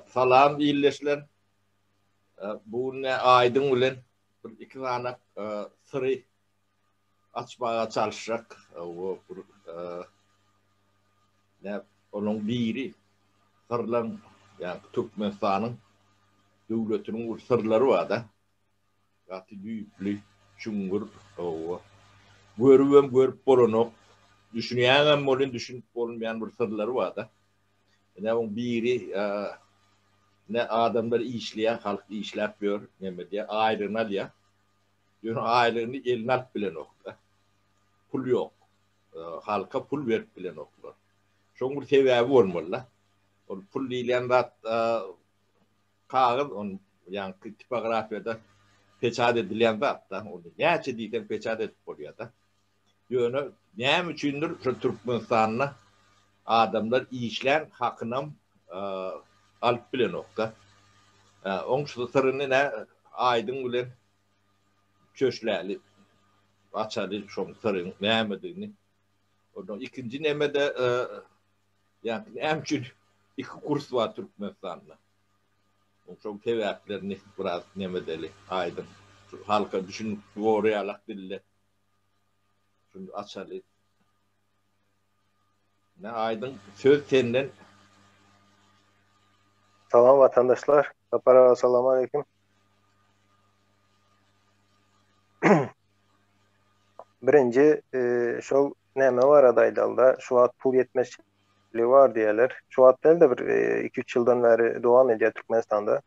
Salam ildeşler. Bu gün ne Aýdyň bilen bir iki sany syry açmaga çalyşjak. Bu bir ne onuň biri syrlaryň ýa Türkmenistanyň döwletiniň bir syrlary bar-da. Gaty düýpli, çuňňur, hawa. Görübem görüp bolanok. Düşünýäňem welin düşünip bolmaýan bir syrlary bar-da. Ine oň biri ine adamlar işleýär, halk işläp ýör, neme edýär, aýlygyny alýar. Ýöne aýlygyny eline alyp bilenok-da. Pul ýok. Halka pul berip bilenoklar. Şoň bir sebäbi bolmaly-da. Ol pul diýlen zat Kagyz ony ýaňky tipografiýada peçat edilýän zat-da. Ony näçe diýseň peçat edip bolýar-da. Ýöne näme üçindir şu Türkmenistanda adamlar işlän hakynam alyp bilenok-da. Oň şu syryny nä Aýdyň bilen çöşläli, açaly şoň syryň nämedigini. Ondan ikinji neme-de Ýagny näme üçin iki kurs bar Türkmenistanda? Muň şol sebäplerini biraz neme edeli, aýdyň. Şu halka düşünikli bolar ýalak dilde şuny açaly. Nä aýdyň, söz senden. Salam watandaşlar. Sapar aga salam aleýkum. Birinji, şol Näme barada aýdalda, şu wagt pul ýetmezçiligi bar diýýärler. Şu wagt däl-de, bir iki-üç ýyldan bäri dowam edýär Türkmenistanda.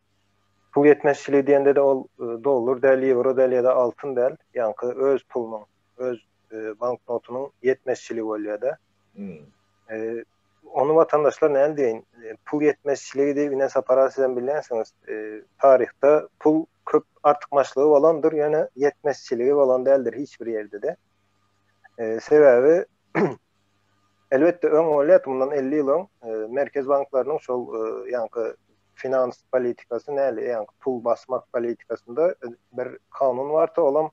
Pul ýetmezçiligi diýende-de ol dollar däl, ýewro däl ýa-da altyn däl, ýaňky öz pulunyň, öz banknotynyň ýetmezçiligi bolýar-da. Ony watandaşlar näl diýeýin, pul ýetmezçiligi diýip ine sapara sizem bilýänsiňiz, taryhda pul köp artykmaçlygy bolandyr, ýöne ýetmezçiligi bolan däldir hiç bir ýerde-de. Sebäbi elbetde öň bolýardy, mundan 50 ýyl öň e, merkez banklarynyň şol e, ýaňky finans politikasy näli, ýaňky pul basmak politikasynda e, bir kanun bardy, olam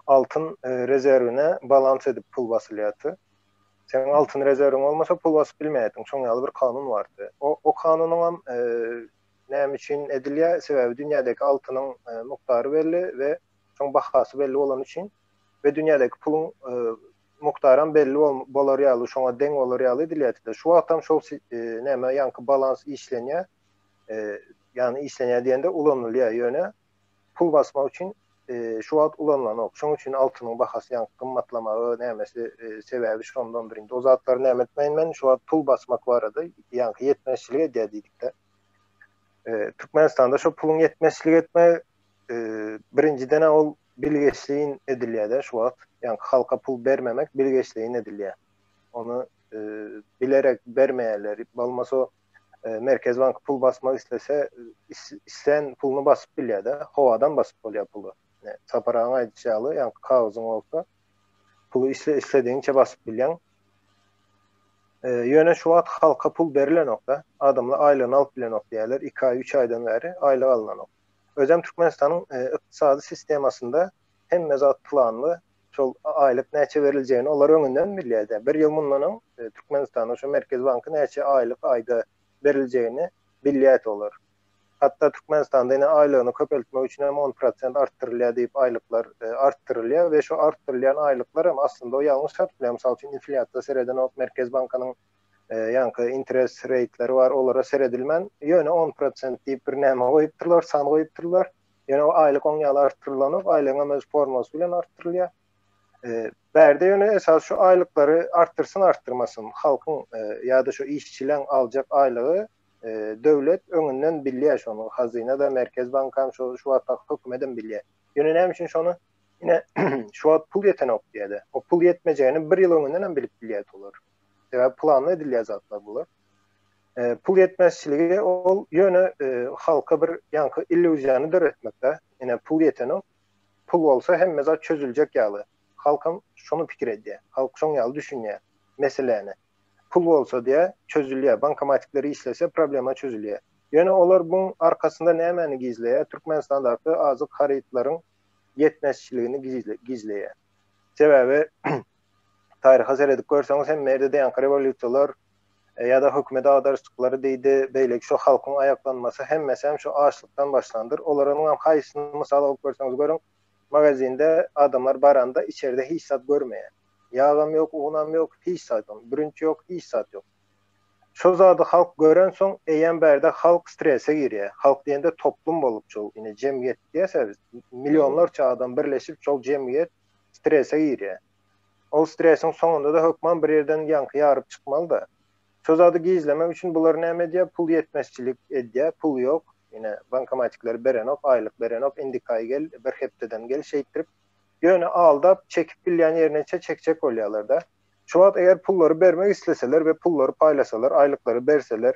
altyn rezerwine balans edip pul basylýardy. Sen altyn rezerwiň bolmasa pul basyp bilmeýärdiň, şoň ýaly bir kanun bardy. O, o kanunyň hem e, näme üçin edilýär? Sebäbi dünýädäki altynyň e, mukdary belli we şoň bahasy belli bolan üçin we dünýädäki puluň mukdaram belli bolar ýaly, şoňa deň bolar ýaly edilýärdi. Şu wagtam şol näme ýaňky balans işlenýär. Ýagny işlenýär diýende ulanylýar, ýöne pul basmak üçin şu wagt ulanylanok. Şoň üçin altynyň bahasy ýaňky gymmatlamagy nämesi sebäbi şondandyr. Indi o zatlary näme etmeýin men, şu wagt pul basmak barada ýaňky ýetmezçilik edýär diýdikde. Türkmenistanda şo puluň ýetmezçilik etmegi birinjiden ol Bilgeşleýin edilýär-de şu wagt. Ýaňky halka pul bermemek bilgeşleýin edilýär. Ony bilerek bermeýärler. Bolmasa Merkezi bank pul basmak islese, islän puluny basyp bilýär-de. Howadan basyp bolýar puly. Sapar agaň aýdyşy ýaly, ýaňky kagyzyň bolsa, puly isledigiňçe basyp bilýäň. Ýöne şu wagt halka pul berilenok-da. Adamlar aýlygyny alyp bilenok diýýärler. Iki aý, üç aýdan bäri aýlyk alynanok. Özem Türkmenistanyň ykdysady sistemasynda hemme zat planly, şol aýlyk näçe beriljegini olar öňünden bilýär. Bir ýyl mundan öň Türkmenistanda şu Merkezi banky näçe aýlyk aýda beriljegini bilýärdi olar. Hatda Türkmenistanda ine aýlygyny köpeltmek üçin hem on prosent artdyrylýar diýip aýlyklar artdyrylýar we şu artdyrylýan aýlyklar hem aslynda o ýalňyş çatyp bilýär. Mysal üçin inflýasiýa seredenok Merkezi bankanyň ýaňky interest reýtleri bar, olara seredilmän, ýöne on prosent diýip bir näme goýupdyrlar, san goýupdyrlar. Ýöne o aýlyk oň ýaly artdyrylanok, aýlygyň hem öz formasy bilen artdyrylýar. Bärde ýöne esas şu aýlyklary artdyrsyn artdyrmasyn, halkyň ýa-da şu işçileň aljak aýlygy döwlet öňünden bilýär şony, hazyna-da, Merkez bank hem şu wagtky hökümet hem bilýär. Ýöne näme üçin şony ine şu wagt pul ýetenok diýýärdi. O pul ýetmejegini bir ýyl öňünden hem bilip bilýärdi olar. Sebäbi planly edilýän zatlar bular. E, pul ýetmezçiligi ol ýöne e, halka bir ýaňky illýuziýany döretmekde. Ýene pul ýeteni pul bolsa hemme zat çözüljek ýaly. Halk hem şony pikir edýär. Halk şoň ýaly düşünýär meseläni. Pul bolsa diýä çözülýär. Bankomatikler işlese problema çözülýär. Ýöne olar bu arkasynda nämäni gizleýär? Türkmenistandaky azyk harytlaryň ýetmezçiligini gizleýär. Sebäbi taryha seredip görseňiz hemme ýerde diýanki rewolýusiýalar e, ýa-da hökümet agdaryşyklary diýdi, beýleki şu halkyň aýaklanmasy hemmesi hem şu açlykdan başlandyr. Olaryň hem haýsyny mysal alyp görseňiz görüň, magazinde adamlar baranda içerde hiç zat görmeýär. Ýagam ýok, unam ýok, hiç zat ýok, bürünç ýok, hiç zat ýok. Şo zady halk gören soň, eýýäm bärde halk strese girýär. Halk diýende toplum bolup şol, ine jemgyýet diýýäs biz. Millionlarça adam birleşip şol jemgyýet strese girýär. Ol stresiň soňunda-da hökman bir ýerden ýaňky ýaryp çykmaly-da. Şo zady gizlemek üçin bular näme edýär, pul ýetmezçilik edýär, pul ýok, ine, bankomatikler berenok, aýlyk berenok, indikaý gel, bir hepdeden gel şeýtdirip, ýöne aldap, çekip bilýän ýerine-çe çekjek bolýarlar-da. Şu wagt eger pullary bermek isleseler we pullary paýlasalar, aýlyklary berseler,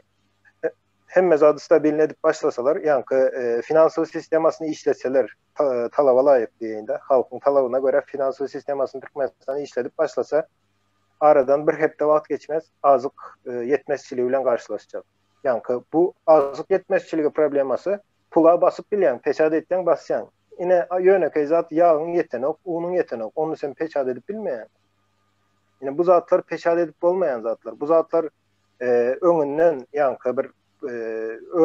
hemme zady stabilny edip başlasalar, ýaňky finansowy sistemasyny işletseler, talaba laýyk diýeýin-de, halkyň talabyna görä finansow sistemasyny Türkmenistan işledip başlasa, aradan bir hepde wagt geçmez, azyk ýetmezçiligi bilen garşylaşjak. Ýaňky bu azyk ýetmezçiligi problemasy pula basyp bilýäň, peçat etseň basýaň. Ine, ýönekeý zat ýagyň ýetenok, unuň ýetenok, ony sen peçat edip bilmeýäň. Ine, bu zatlar peçat edip bolmaýan zatlar. Bu zatlar öňünden, ýaňky bir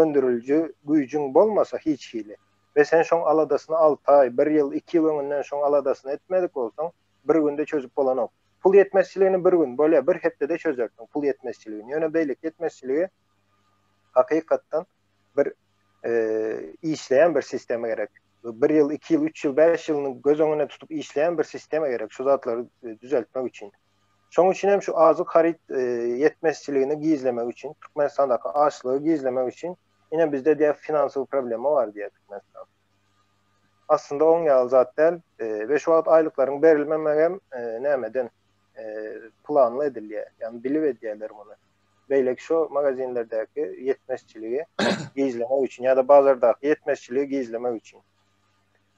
öndüriliji güýjüň bolmasa hiç hili we sen şoň aladasyny alty aý, bir ýyl, iki ýyl öňünden şoň aladasyny etmedik bolsaň, bir günde çözüp bolanok. Pul ýetmezçiligini bir gün, bolýar, bir hepdede çözersiň pul ýetmezçiligini. Ýöne beýleki ýetmezçiligi hakykatdan bir işleýän bir sistema gerek. Bir ýyl, iki ýyl, üç ýyl, bäş ýylyny göz öňünde tutup işleýän bir sistema gerek şu zatlary düzeltmek üçin. Şonuň üçin hem şu azyk haryt ýetmezçiligini gizlemek üçin, Türkmenistandaky açlygy gizlemek üçin ine bizde diýýär finansowy problema bar diýýär Türkmenistan. Aslynda oň ýaly zat däl we şu wagt aýlyklaryň berilmemegi hem nämeden planly edilýär. Ýagny bilip edýärler muny. Beýleki şu magazinlerdäki ýetmezçiligi gizlemek üçin ýa-da bazardaky ýetmezçiligi gizlemek üçin.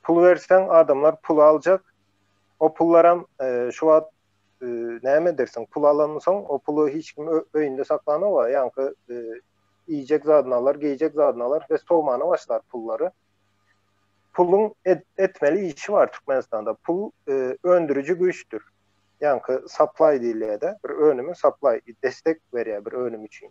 Pul berseň adamlar pul aljak, O pullaram şu wagt näme edersiň? Pul alansoň, o puly hiç kim öýünde saklanok-a, ýaňky iýjek zadyny alar, geýjek zadyny alar we sowmana başlar pullary. Puluň etmeli işi bar Türkmenistanda. Pul öndüriji güýçdür. Ýaňky supply diýilýär-de, bir önümi supply, destek berýär bir önüm üçin.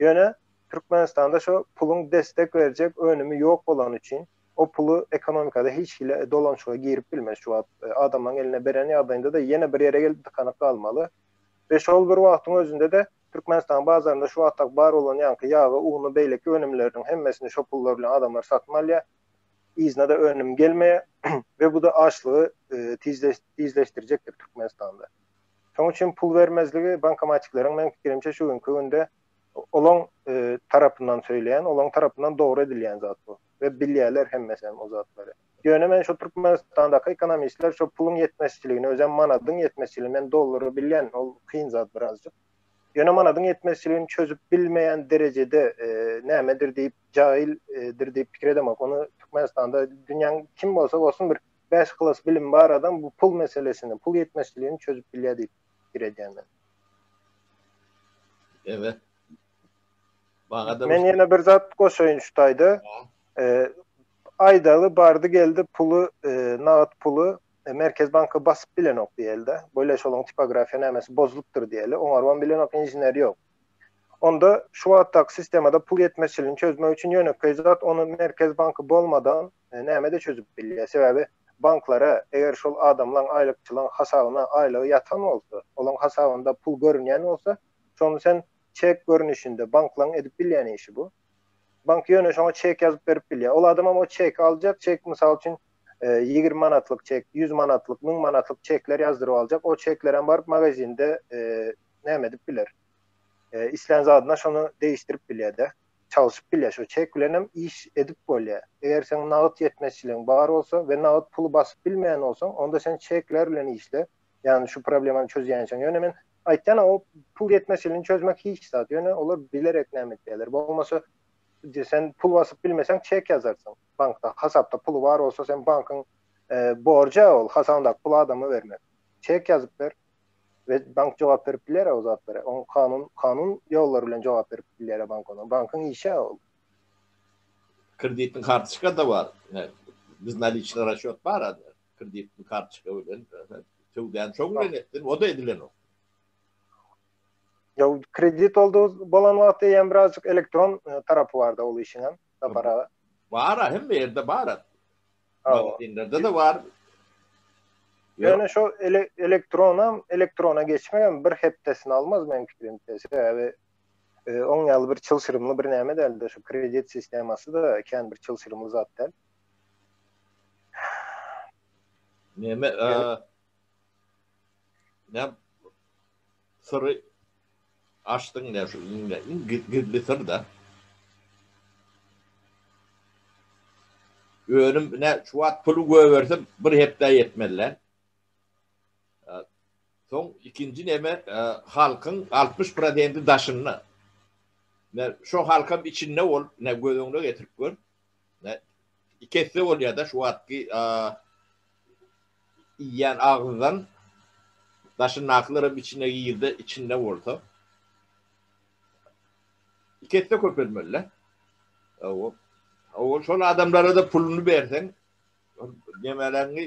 Ýöne Türkmenistanda şo puluň destek berjek önümi ýok bolany üçin, O puly ekonomikada hiç hili dolanşyga girip bilmez şu wagt. Adamlaryň eline beren ýagdaýynda-da ýene bir ýere gelip dykanyp galmaly. We şol bir wagtyň özünde-de Türkmenistanyň bazarynda şu wagtdaky bar bolan ýaňky ýagy, uny, beýleki önümleriniň hemmesini şo pullar bilen adamlar satyn alýar. Yzyna-da önüm gelmeýär. We bu-da açlygy tizleşdirjekdir Türkmenistanda. Şonuň üçin pul bermezligi bankomatikleriň meň pikirimçe şu günki günde olaň tarapyndan söýleýän, olaň tarapyndan dogry edilýän zat bu we bilýärler hemmesem o zatlary. Ýöne men şu Türkmenistandaky ekonomistler şu puluň ýetmezçiligini, özem manadyň ýetmezçiligini, men dollary bilýän, ol kyn zat birazjyk. Ýöne manadyň ýetmezçiligini çözüp bilmeýän derejede nämedir diýip, jahildir diýip pikir edemok. Ony Türkmenistanda dünýäň kim bolsa bolsun bir bäş klas bilimi bar adam bu pul meselesini, pul ýetmezçiligini çözüp bilýär diýip pikir edýän men. Evet. Bagada Men ýene bir zat goşaýyn şu taýda. E, aýdaly bardy geldi puly, e, nagt puly e, Merkez banka basyp bilenok diýelde. Böyle şolyň tipografiýa nämesi bozulypdyr diýeli. Oňarwan bilenok inžener ýok. Onda şu wagtdaky sistemada pul ýetmezçiligini çözmek üçin ýönekeý zat ony Merkez banka bolmadan Nämede çözüp bilýär? Sebäbi banklara eger şol adamlaň aýlykçylaň hasabyna aýlygy ýatan bolsa, olaň hasabynda pul görünýän bolsa, şony sen çek görnüşinde, banklaň edip bilýän işi bu. Bank ýöne şoňa çek ýazyp berip bilýär. Ol adamam o çeki aljak, çek mysal üçin ýigrimi manatlyk çek, ýüz manatlyk, müň manatlyk çekler ýazdyryp aljak. O çeklerem baryp magazinde näme edip biler? Islän zadyna şony degişdirip bilýär-de. çalşyp bilýär. Şo çek bilen hem iş edip bolýar. Eger seň nagt ýetmezçiligiň bar bolsa we nagt puly basyp bilmeýän bolsaň, onda sen çekler bilen işle. Ýagny şu problemany çözýänçäň. Ýöne men aýtýan-a, o pul ýetmezçiligini çözmek hiç zat. Ýöne olar bilerek näme edýärler. Bolmasa sen pul basyp bilmeseň çek ýazarsyň. Bankda hasapda puly bar bolsa, sen bankyň borjy-a ol hasabyndaky puly adama bermek. Çek ýazyp ber. we bank jogap berip biler o zatlara. Oň kanun kanun ýollary bilen jogap berip biler bank ona. Bankyň işi ol. Kreditni kartoçka da bar. Biz naliçna raşýot bar. Kreditni kartoçka bilen söwdäni şoň bilen etdim. O da edilen ok. Ýa kredit oldu bolan wagty ýa birazjyk elektron tarapy barda ol işiň hem. Bar hem ýerde bar. Magazynlarda-da bar. Ýöne şo elektronam, elektrona geçmegem bir hepdesini almaz meň pikirimçe. Sebäbi oň ýaly bir çylşyrymly bir näme däldi. Şu kredit sistemasy-da kän bir çylşyrymly zat däl. Näme? Näme? Syry açdyň nä şu iňňe iň gizli syrda. Önüm nä şu wagt puly göberse bir hepdä ýetmez lä. Soň ikinji neme halkyň 60 prozenti daşynda. Nä şu halkam içinde bolup nä göz öňüne getirip gör. iki esse bolýar da şu wagtky iýýän agyzdan daşyndakylar hem içine girdi içinde bolsa iki esse köpelmeli o o şol adamlara da puluny berseň nemelerni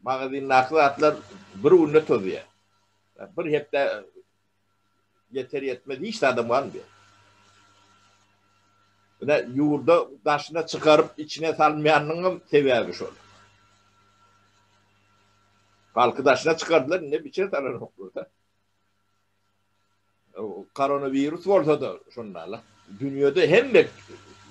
magazindaky zatlar bir günde tozýar bir hepde Ýeter ýetmez hiç zadam galmyar. Ine ýurda daşyna çykaryp içine salmaýanynyňam sebäbi şol. Halky daşyna çykardylar indi biçe salanoklar da. Koronawirus bolsa-da şonda-la. Dünýede hemme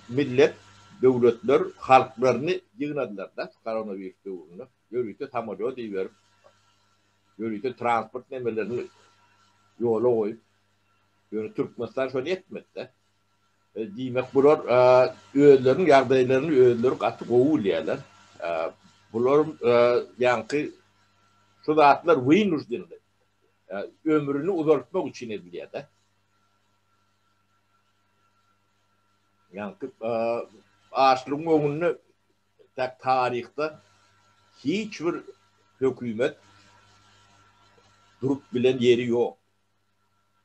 millet, döwletler halklaryny ýygnadylar-da koronawirus döwründe. Ýörite samolýot iberip Ýörite transport nemelerini ýola goýup, ýöne Türkmenistan şony etmedi-de. Diýmek, bular özleriniň ýagdaýlaryny özleri gaty gowy bilýärler. Bular ýaňky şu zatlar wynujdenli, ömrüni uzaltmak üçin edilýär-de. Ýaňky açlygyň öňünde Tä taryhda hiç bir hökümet durup bilen ýeri ýok.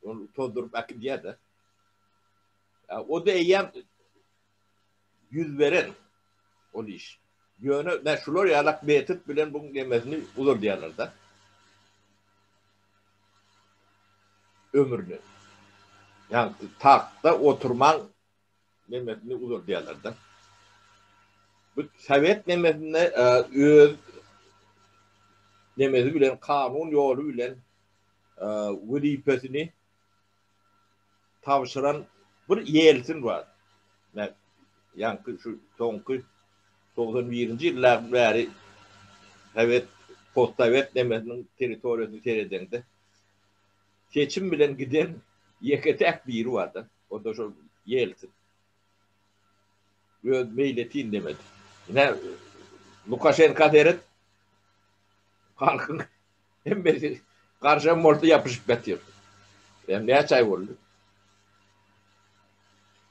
Ol tozduryp äkidýär-de. O-da eýýäm ýüz beren ol iş. Ýöne nä şular ýalak metod bilen bu nemesini uzaldýarlar-da. Ömrüni. Ýa tagtda oturman Nemesini uzadýarlar-da. Bu sowet nemesinde öz nemesi bilen, kanun ýoly bilen wezipesini tabşyran bir Ýelsin bar. Ýaňky şu soňky togsan birinji ýyllardan bäri sowet, postsowet nemesiniň territoriýasyny seredeňde, seçim bilen giden ýeke-täk biri bar-da. Onda şol Ýeltsin öz meýletin indemedi. Ine Lukaşenka seret. Halkyň hemmesi garşam bolsa ýapyşyp ýatyr. Hem näçe aý boldy?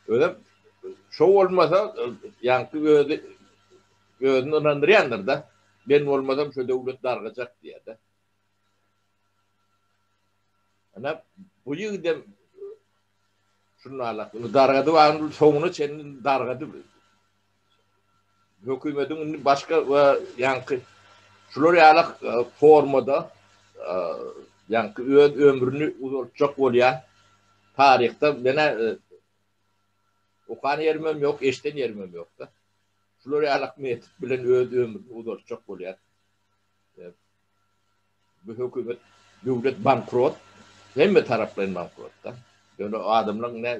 Özem şo bolmasa ýaňky özi özüni ynandyrýandyr da. Men bolmasam şo döwlet dargajak diýýär-de. Ana, bu ýigidem şundanlak. Indi dargady wagtynda soňuna çenli dargady. Hökümetiň indi başga we ýaňky şular ýaly formada ýaňky öz ömrüni uzaltjak bolýan taryhda menä okan ýerimem ýok, eşden ýerimem ýok-da. Şular ýaly metod bilen öz ömrüni uzaltjak bolýar. Bu hökümet döwlet bankrot hemme taraplaýyn bankrotda. Ýöne adamlaň ne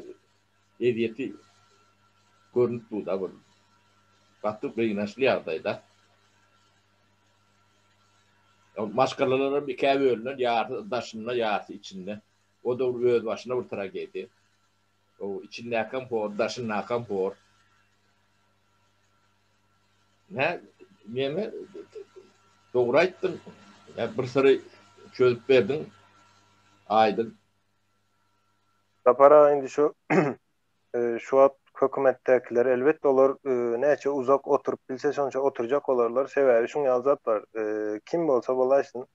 ezýeti görnüp durda bul gaty gynaçly ýagdaýda. Maşgalalaram ikä bölünen ýarsy daşynda ýarsy içinde. O da bir öz başyna bir tragediýa. O içindäkem hor daşyndakam hor. Nä, neme, dogry aýtdyň. Nä, bir syry çözüp berdiň. Aýdyň. Sapar aga, indi şu, şu wagt hökümetdäkiler, elbetde, olar näçe uzak oturyp bilse, şonça oturjak bolarlar. Sebäbi şuň ýaly zat bar, kim bolsa bolaýsyn,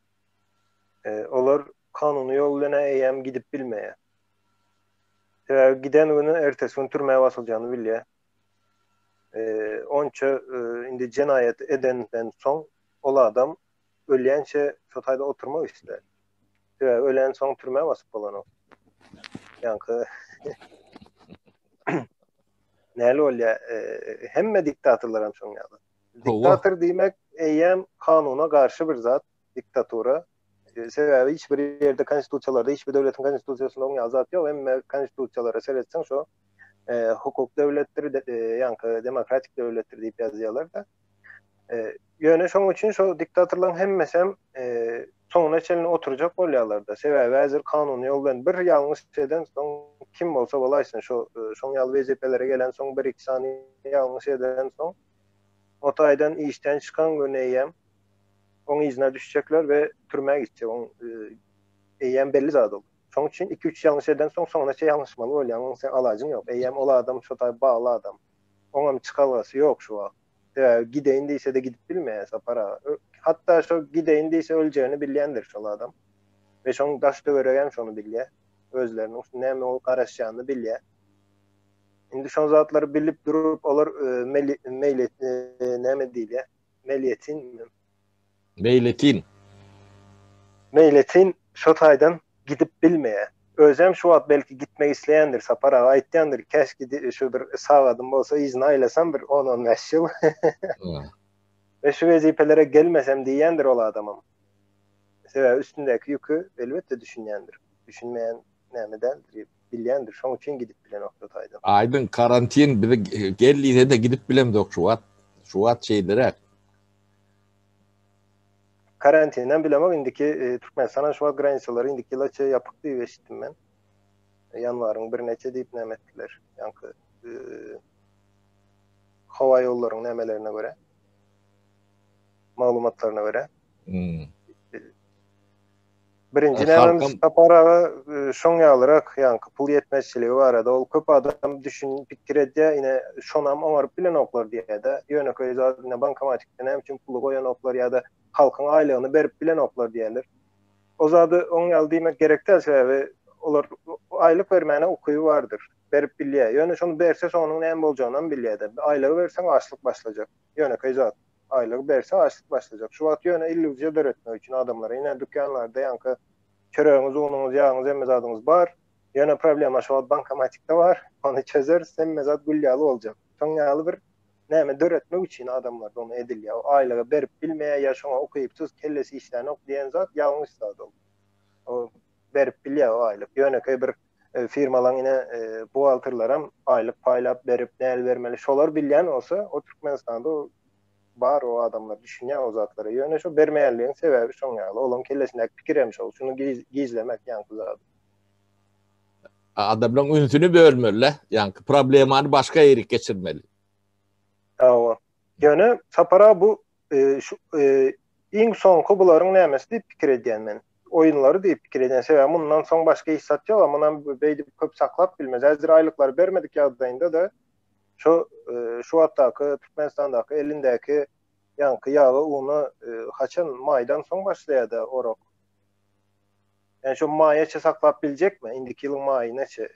olar kanuny ýol bilen eýýäm gidip bilmeýär. Sebäbi giden güni ertesi gün türmä basyljagyny bilýär. onça indi jenaýat edenden soň ol adam ölýänçe şo taýda oturmak islär. Sebäbi ölen soň türmä basyp bolanok. Ýaňky näle bolýa? Hemme diktatorlar hem şoň ýaly. Diktator diýmek eýýäm kanuna garşy bir zat, diktatura. E, sebäbi hiç bir ýerde konstitusiýalarda hiç bir döwletiň konstitusiýasynda oňa azat ýok. Emma konstitusiýalara seretseň şo e, hukuk döwletdir, e, ýaňky demokratik döwletdir diýip ýazýarlar da. E, ýöne şoň üçin şo diktatorlaryň hemmesi hem e, soňuna çenli oturjak bolýarlar da. Sebäbi häzir kanun ýol bilen bir ýalňyş eden soň kim bolsa bolaýsyn şo e, şoň ýaly wezipeleri gelen soň bir iki sany ýalňyş eden soň o taýdan işden çykan gün eýem oň yzyna düşjekler we türmä gitjek oň eýýäm belli zat ol şoň üçin iki üç ýalňyş eden soň soňuna çe ýalňyşmaly bolýaň oň sen alajyň ýok eýýäm ol adam şo taý bagly adam oňam çykalgasy ýok şu wagt sebäbi gideýin diýsede gidip bilmeýär sapar aga hatda şo gideýin diýse öljegini bilýändir şol adam we şoň daş töweregem şony bilýär özleriniň näme bolup garaşýanyny bilýär indi şo zatlary bilip durup olar meýli näme diýilýär Meliyetin mi? Meýletin. Meýletin şo taýdan gidip bilmeýär. Özem şu wagt belki gitmek isleýändir, Sapar aga aýtýandyr, Käş gidi şu bir sagadym bolsa yzyna aýlasam bir on-on bäş ýyl. We şu wezipelere gelmesem diýýändir ol adamam. Sebäbi üstündäki ýüki elbetde düşünýändir. Düşünmeýän näme däldir. bilýändir, şoň üçin gidip bilenokdy taýdan. Aýdyň, karantin bizi gel diýse-de gidip bilemzok şu wagt. Şu wagt şeýleräk. Karantinden bilemok, indiki Türkmenistana şu wagt granisalary indiki ýyla çenli ýapyk diýip eşitdim men. Ýanwaryň birine-çe diýip näme etdiler, ýaňky howa ýollaryň nämelerine görä. Maglumatlaryna görä. Birinji näme Sapar aga e, şoň ýalyrak ýaňky pul ýetmezçiligi barada ol köp adam düşün pikir edýär ine şonam oňaryp bilenoklar diýýärde ýönekeý zat ine bankomatikde näme üçin puly goýanoklar ýa-da halkyň aýlygyny berip bilenoklar diýýärler o zady oň ýaly diýmek gerek däl sebäbi olar aýlyk bermäne ukyby bardyr berip bilýär ýöne şony berse soňunyň näme boljagyny hem bilýärde aýlygy berseň açlyk başlajak ýönekeý zat Aýlygy berse açlyk başlajak. Şu wagt ýöne illýuziýa döretmek üçin adamlara ine dükýanlarda ýaňky çöregiňiz unuňyz ýagyňyz hemme zadyňyz bar. Ýöne problema şu wagt bankomatikde bar. Ony çözeris hemme zat gül ýaly boljak. Şoň ýaly bir näme döretmek üçin adamlarda ony edilýär. O aýlygy berip bilmeýär ýa şoňa ukypsyz kellesi işlänok diýen zat ýalňyş zat ol. O berip bilýär o aýlyk. Ýönekeý bir E, firmalaň ine e, buhgalterleram aýlyk paýlap berip näl bermeli şolar bilýän bolsa o Türkmenistanda bar o adamlar düşünýär o zatlara ýöne şo bermeýänligiň sebäbi şoň ýaly olaň kellesindäki pikir hem şol şuny gizlemek ýaňky zady adamlaryň ünsüni bölmeli ýaňky problemany başga ýerik geçirmeli hawa ýöne sapara bu iň soňky bularyň nämesi diýip pikir edýän men. Oýunlary diýip pikir edýän. Sebäbi mundan soň başga iş zat ýok, a munam beýdip köp saklap bilmez. Häzir aýlyklary bermedik ýagdaýynda-da şu şu wagtdaky Türkmenistandaky elindäki ýaňky ýaga una haçan maýdan soň başlaýada orak. Ýani şu maýaça saklap biljekmi? Indiki ýylyň maýynaça.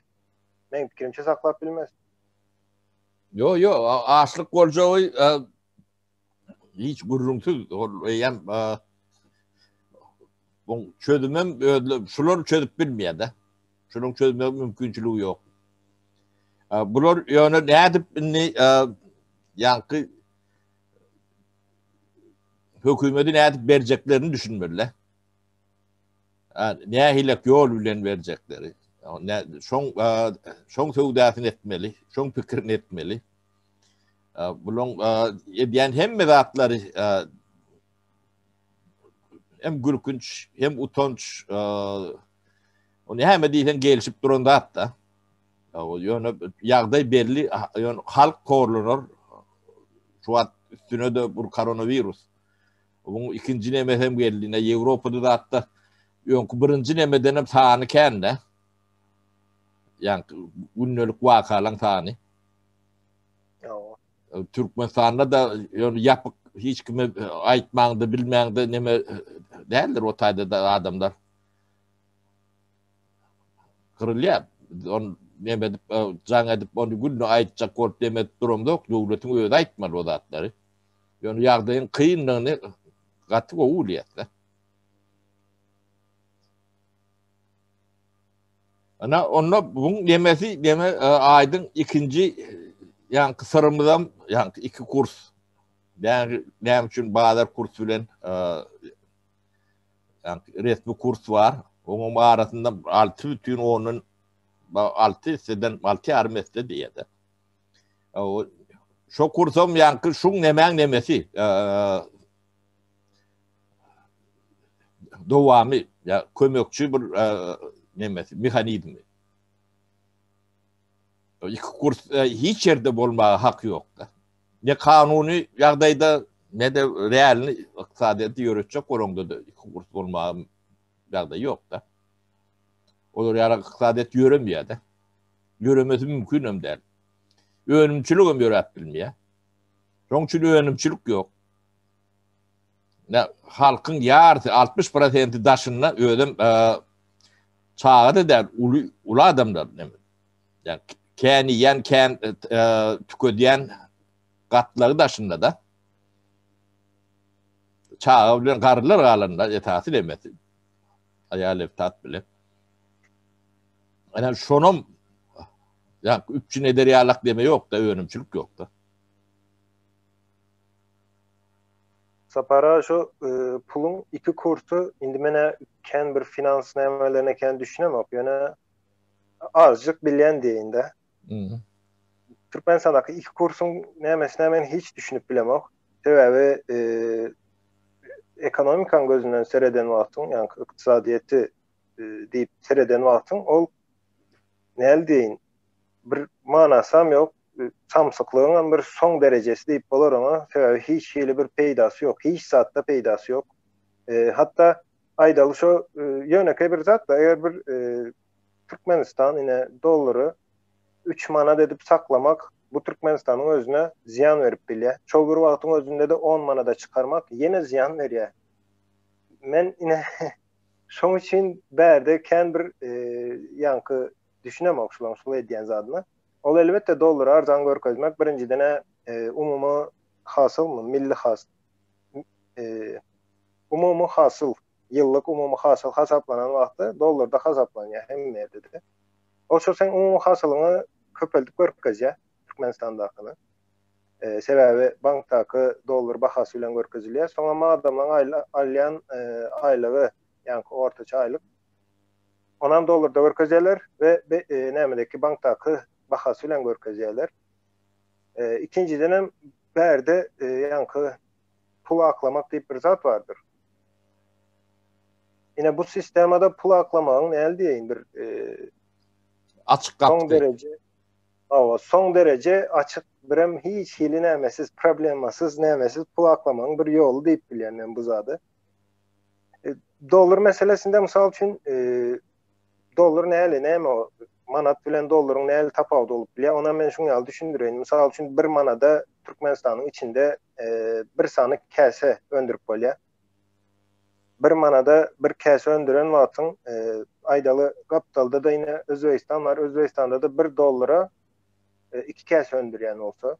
Meň pikirimçe saklap bilmez. Ýok ýok, açlyk boljagy hiç gürrüňsiz eýýäm bu çözümem özle şular çözüp bilmeýär-de. Şunuň çözmek mümkinçiligi ýok. Bular ýöne nädip indi ýaňky hökümeti nädip berjeklerini düşünmeli. Nähilek ýol bilen berjekleri. Şoň şoň söwdasyny etmeli, şoň pikirini etmeli. Buluň edýän hemme zatlary hem gülkünç, hem utanç. Ony hemme diýseň gelişip duran zat da. Ýöne ýagdaý belli, ýöne halk horlanar. Şu wagt üstüne de bu koronavirus. Onuň ikinji neme hem geldi. Ne Ýewropada zatda öňki birinji nemeden hem sany kän de. Ýa gündelik wakalaryň sany. Türkmenistanda da ýöne ýapyk hiç kime e, aýtmaňda bilmäňde neme e, däldir o taýda da adamlar. Gyrylýar. On neme edip e, jaň edip ony günde aýtjak bolup neme edip duram ýok. Döwletiň özi aýtmaly o zatlary. Ýöne ýagdaýyň kynlygyny gaty gowy bilýär. Ana onda buň demesi deme e, aýdyň ikinji ýaňky syrymyz hem ýaňky iki kurs. Näme üçin bazar kurs bilen e, ýaňky resmi kurs bar. Onuň arasynda 6 bütin ondan 6 hisseden 6 ýarym hisse diýýärdi. E, şo kursam ýaňky şuň nemäň nemesi? dowamy ya kömekçi bir nemesi mehanizmi. İki kurs hiç yerde bolmağa hak yok da. Ne kanuni yagdayda ne de realni iktisadiyeti yöretecek oranda da iki kurs olmağa yagday yok da. Olur yara iktisadiyet yöremiyor da. Yöremesi mümkün hem değil. Önümçilik hem yöretbilmiyor. Onun için önümçilik yok. halkyň ýarysy altmyş prosenti daşynda özüm e, çaga-da däl, uly, uly adamlar. Yani, kän iýen, kän e, e, tükedýän gatlagy daşynda-da çaga bilen garrylar galanda esasy demesi. Aýal tat bilen. Yani şonum ya üpçün eder yalak deme yok da önümçülük yok da. Sapara şu puluň iki kursy indi menä kän bir finans nämelerine kän düşünemok ýöne azjyk bilýän diýinde. Mhm. Türkmenistandaky iki kursuň nämesine men hiç düşünip bilemok. Sebäbi e, ekonomikaň gözünden sereden wagtyň, ýa-ni ykdysadyýeti e, diýip sereden wagtyň ol näl diýin? Bir manasam ýok. Samsyklygyň hem bir soň derejesi diýip bolar oňa, sebäbi hiç hili bir peýdasy ýok, hiç zatda peýdasy ýok. Hatda aýdaly şo ýönekeý bir zat-da, eger bir Türkmenistan ine dollary üç manat edip saklamak bu Türkmenistanyň özüne zyýan berip bilýär. Şol bir wagtyň özünde-de on manada çykarmak ýene zyýan berýär. Men ine şoň üçin bärde kän bir ýaňky düşünemok şulaň şul edýän zadyna. Ol elbetde dollary arzaň görkezmek birinjiden e, umumy hasylmy, milli has e, umumy hasyl, ýyllyk umumy hasyl hasaplanan wagty dollarda hasaplanýar hemme ýerde-de. O şu sen umumy hasylyňy köpeldip görkezýär Türkmenistandakyny. E, sebäbi bankdaky dollar bahasy bilen görkezilýär. Soňra adamlaryň alýan e, aýlygy, ýaňky ortaça aýlyk Onam dollarda görkezýärler we nämedeki bankdaky bahasy bilen görkezýärler. Ikinjidenem bärde ýaňky pul aklamak diýip bir zat bardyr. Ine bu sistemada pul aklamagyň näli diýeýin bir açyk gapdy. Soň dereje Awa, soň dereje açyk birem hiç hili nämesiz, problemasyz, nämesiz pul aklamagyň bir ýoly diýip bilýän men bu zady. E, dollar meselesinde mysal üçin e, dollar näli näme o manat bilen dollaryň näli tapawudy bolup bilýär ona men şuň ýaly düşündireýin mysal üçin bir manada türkmenistanyň içinde e, bir sany käse öndürip bolýar bir manada bir käse öndüren wagtyň e, aýdaly gapdalda da ýene özbegistan bar özbegistanda da bir dollara e, iki käse öndürýän bolsa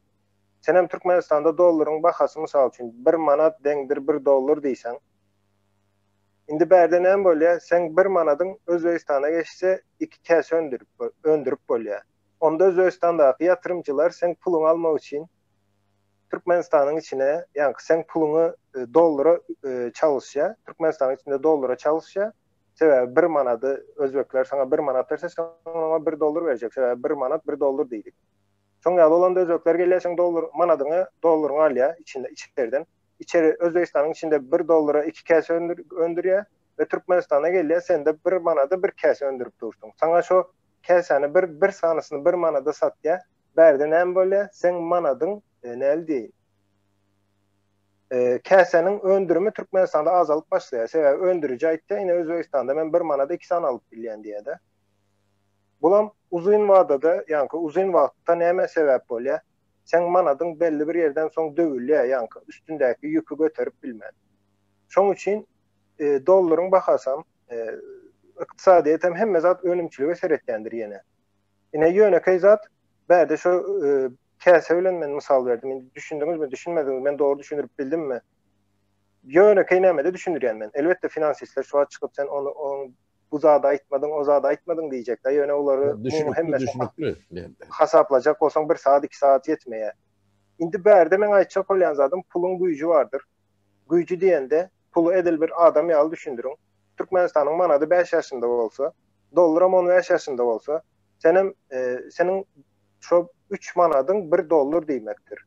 Senem Türkmenistanda dollaryň bahasy mysal üçin bir manat deňdir bir dollar diýseň. Indi bärde näme bolýa seň bir manadyň Özbegistana geçse iki käse öndürip öndürip bolýa. Onda Özbegistandaky ýatyrymcylar seň puluňy almak üçin Türkmenistanyň içine ýaňky seň puluňy dollara çalyşýa. Türkmenistanyň içinde dollara çalyşýa. Sebäbi bir manady Özbekler saňa bir manat berse sen oňa bir dollar berjek. Sebäbi bir manat bir dollar diýdik. Şoň ýaly bolanda özbekler gelýär seň dollar manadyňy dollaryňy alýar içinde içerden. Içeri Özbegistanyň içinde bir dollara iki käse öndür öndürýär we Türkmenistana gelýär sende bir manada bir käse öndürip dursuň. Saňa şo käsäni bir bir sanysyny bir manada satýar. Bärde näme bolýar? Seň manadyň e, näli diýeýin? E, käsäniň öndürimi Türkmenistanda azalyp başlaýar. Sebäbi öndüriji aýtýar, ine Özbegistanda men bir manada iki sany alyp bilýän diýýär-de. Bulam uzyn wadada, ýaňky uzyn wagtda nämä sebäp bolýar? Seň manadyň belli bir ýerden soň döwülýär, ýaňky üstündäki ýüki göterip bilmän. Şoň üçin dollaryň bahasam, ykdysadyýetem hemme zat önümçilige seretýändir ýene. Ine ýönekeý zat, bärde şo käse bilen men mysal berdim. Indi düşündiňizmi, düşünmediňizmi, men dogry düşündirip bildimmi? Ýönekeý nämede düşündirýän men. Elbetde finansistler şu wagt çykyp sen ony oň bu zady aýtmadyň, o zady aýtmadyň diýjek-dä, ýöne olary umumy hemmesini hasaplajak bolsaň bir sagat, iki sagat ýetmeýär. Indi bärde meň aýtjak bolýan zadym puluň güýji bardyr. Güýji diýende puly edil bir adam ýaly düşündiriň. Türkmenistanyň manady bäş ýaşynda bolsa, dollaram on bäş ýaşynda bolsa, senem, seniň şo üç manadyň bir dollar diýmekdir.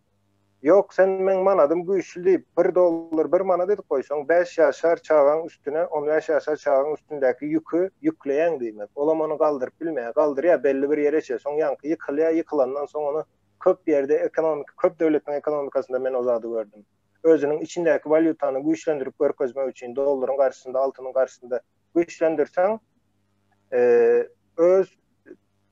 Ýok, sen meň manadym güýçli diýip, bir dollar bir manat edip goýsaň, bäş ýaşar çagaň üstüne, on bäş ýaşar çagaň üstündäki ýüki ýükleýäň diýmek. Olam ony galdyryp bilmeýär. Galdyrýar belli bir ýere çe, soň ýaňky ýykylýar, ýykylandan soň ony köp ýerde, ekonomik, köp döwletiň ekonomikasynda men o zady gördüm. Özüniň içindäki walýutany güýçlendirip görkezmek üçin, dollaryň garşysynda, altynyň garşysynda güýçlendirseň, e, öz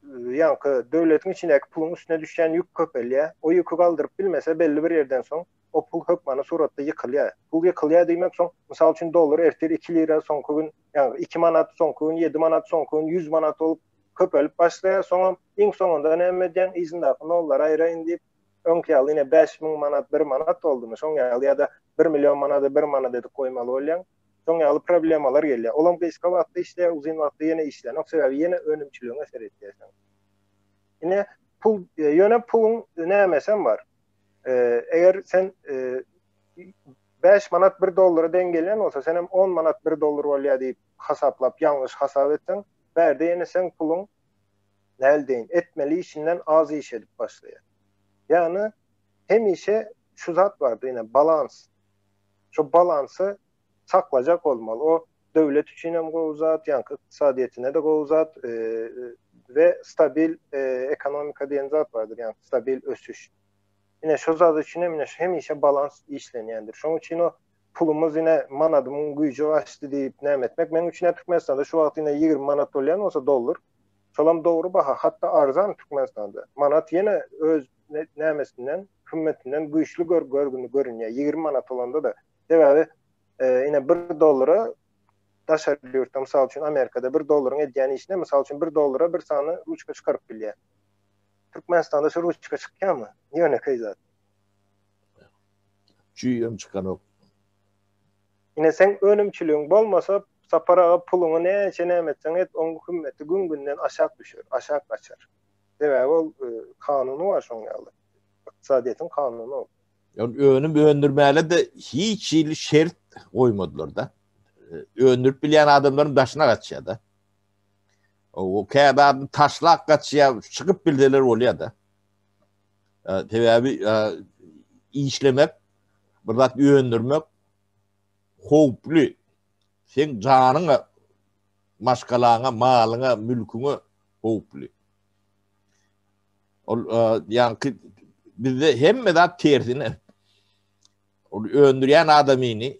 ýaňky döwletiň içindäki puluň üstüne düşýän ýük köpelýär. O ýüki galdyryp bilmese, belli bir ýerden soň o pul hökmany suratda ýykylýar. Pul ýykylýar diýmek soň, mysal üçin, dollar ertir iki lira, soňky gün, ýagny iki manat, soňky gün ýedi manat, soňky gün ýüz manat bolup köpelip başlaýar. Soňam iň soňunda näme edýäň, yzyndaky nollary aýraýyn diýip, öňki ýaly ine bäş müň manat bir manat boldumy, şoň ýaly ýa-da bir million manady bir manat edip goýmaly bolýaň. Şoň ýaly problemalar gelýär. Olam gysga wagtda işleýär, uzyn wagtda ýene işlänok, sebäbi ýene önümçiligiň äseri etýär. Ine, pul, e, ýöne puluň nämesem bar. E, eger sen e, 5 manat 1 dollara deň gelýän bolsa, sen hem 10 manat 1 dollar bolýar diýip hasaplap, ýalňyş hasap etseň, bärde ýene sen puluň näl deýin, etmeli işinden az iş edip başlaýar. Ýagny hemişe şu zat bardy, ýene balans. Şo balansy saklajak bolmaly. O döwlet üçin hem gowy zat, ýaňky ykdysadyýetine-de gowy zat we stabil ekonomika diýen zat bardyr, ýagny stabil ösüş. Ine şo zat üçin hem ine hemişe balans işlenýändir. Şonuň üçin o pulumyz ine manadymyň güýji gaçdy diýip näme etmek? Meniň üçin hem Türkmenistanda şu wagt ine 20 manat bolýan bolsa dollar, şolam dogry baha, hatda arzan Türkmenistanda. Manat ýene öz nämesinden, hymmetinden güýçli gör, görgüni görünýär. 20 manat bolanda-da. Sebäbi ine 1 dollara daşary ýurtda, mysal üçin Amerikada 1 dollaryň edýän işine, mysal üçin 1 dollara bir sany ruçka çykaryp bilýär. Türkmenistanda şu ruçka çykýarmy? Ýöne keýzat. Çüýem çykanok. Ine sen önümçiligiň bolmasa, saparaga puluňy näçe näme etseň et, oň hymmeti gün-günden aşak düşer, aşak gaçar. Sebäbi ol e, kanuny bar şoň ýaly. Ykdysadyýetiň kanuny ol. Ýöne önüm öndürmäge de hiç hili şert goýmadylar da. E, öndürip bilýän adamlaryň daşyna gaçýar da. O käbä taşlap gaçýar, çykyp bilseler bolýar da. E, sebäbi e, işlemek, bir zat öndürmek howply. Sen janyňa, maşgalaňa, malyňa, mülküňe howply. Ol ýaňky bizde hemme zat tersine. Ol öndürýän adamyny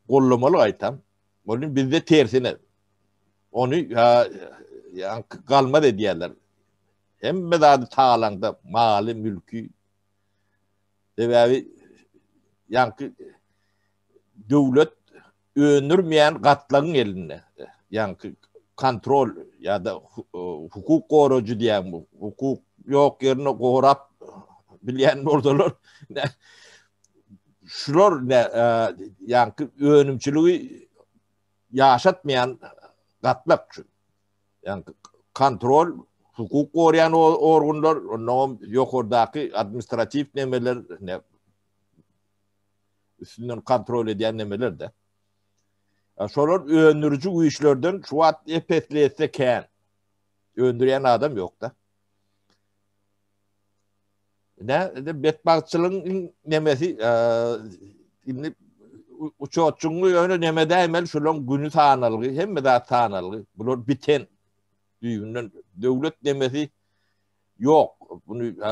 gollamaly aýtam. Ony bizde tersine. Ony ýa galmaz edýärler. Hemme zady talaňda, maly, mülki. Sebäbi ýaňky döwlet öndürmeýän gatlagyň elinde. Ýaňky kontrol ýa-da hukuk gorajy diýen bu hukuk ýok ýerine gorap bilýän bolsalar şular ne e, ýaňky önümçiligi ýaşatmaýan gatlak üçin. Ýaňky kontrol hukuk goraýan organlar, ondan ýokardaky administratiw nemeler, ne üstünden kontrol edýän nemeler-de. Şolar öndüriji güýçlerden şu wagt epesli etse kän. Öndürýän adam ýok-da. Ne, de betbagtçylygyň nemesi, e, indi uçotçuň ýöne neme dämel şolaň güni sanalgy, hemme zat sanalgy. Bular biten düýbünden döwlet nemesi ýok. Bunu e,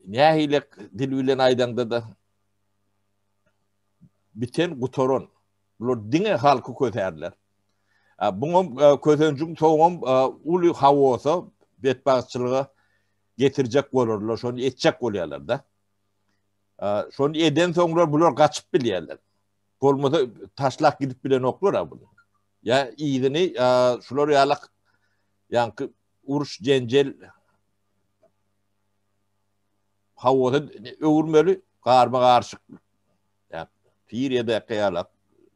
nähili dil bilen aýdaňda da biten gutaran. Bular diňe halky kötärler. Buňa e, közenjiň soňam e, uly hawosa betbagtçylyga getirjek bolarlar, şony etjek bolýarlar da. Şony eden soňlar bular gaçyp bilýärler. Bolmasa taşlak gidip bilen oklar ha bunu. Ya iyini şular yalak yankı uruş cencel howada öwürmeli, garma-garşyk, Siriýadaky ýaly,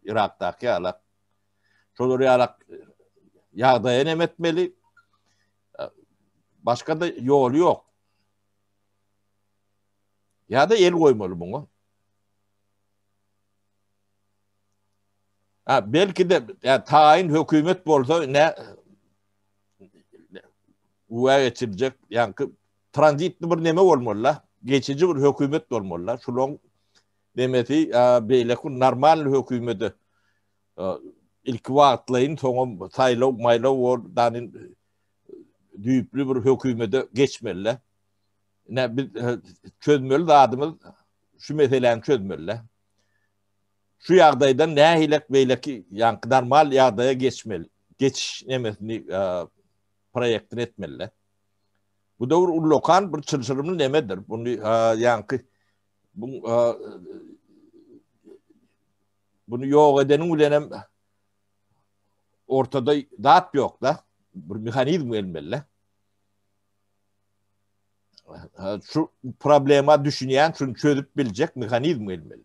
Yrakdaky ýaly, şolar ýaly ýagdaýa näme etmeli, başga-da ýoly ýok. Ýa-da el goýmaly muňa. Ha, belki-de, ýa, taýyn hökümet bolsa, nä, güwä geçirjek ýaňky tranzitli bir neme bolmaly-la, geçiji bir hökümet bolmaly-la. Şularyň demesi beýleki normal hökümete ilki wagtlaýyn, soňam saýlaw, maýlaw bol, dany düýpli bir hökümete geçmeli-la. Ine biz çözmeli zadymyz şu meseläni çözmeli-la. Şu ýagdaýdan nähilek beýleki ýaňky normal ýagdaýa geçmeli, geçiş nemesini proýektini etmeli. Bu da bir ullakan bir çylşyrymly nemedir. Bunu ýaňky bu bunu ýok edeniň bilen hem ortada zat ýok da bir mehanizm gelmeli. Şu problema düşünýän, şunu çözüp biljek mehanizm gelmeli.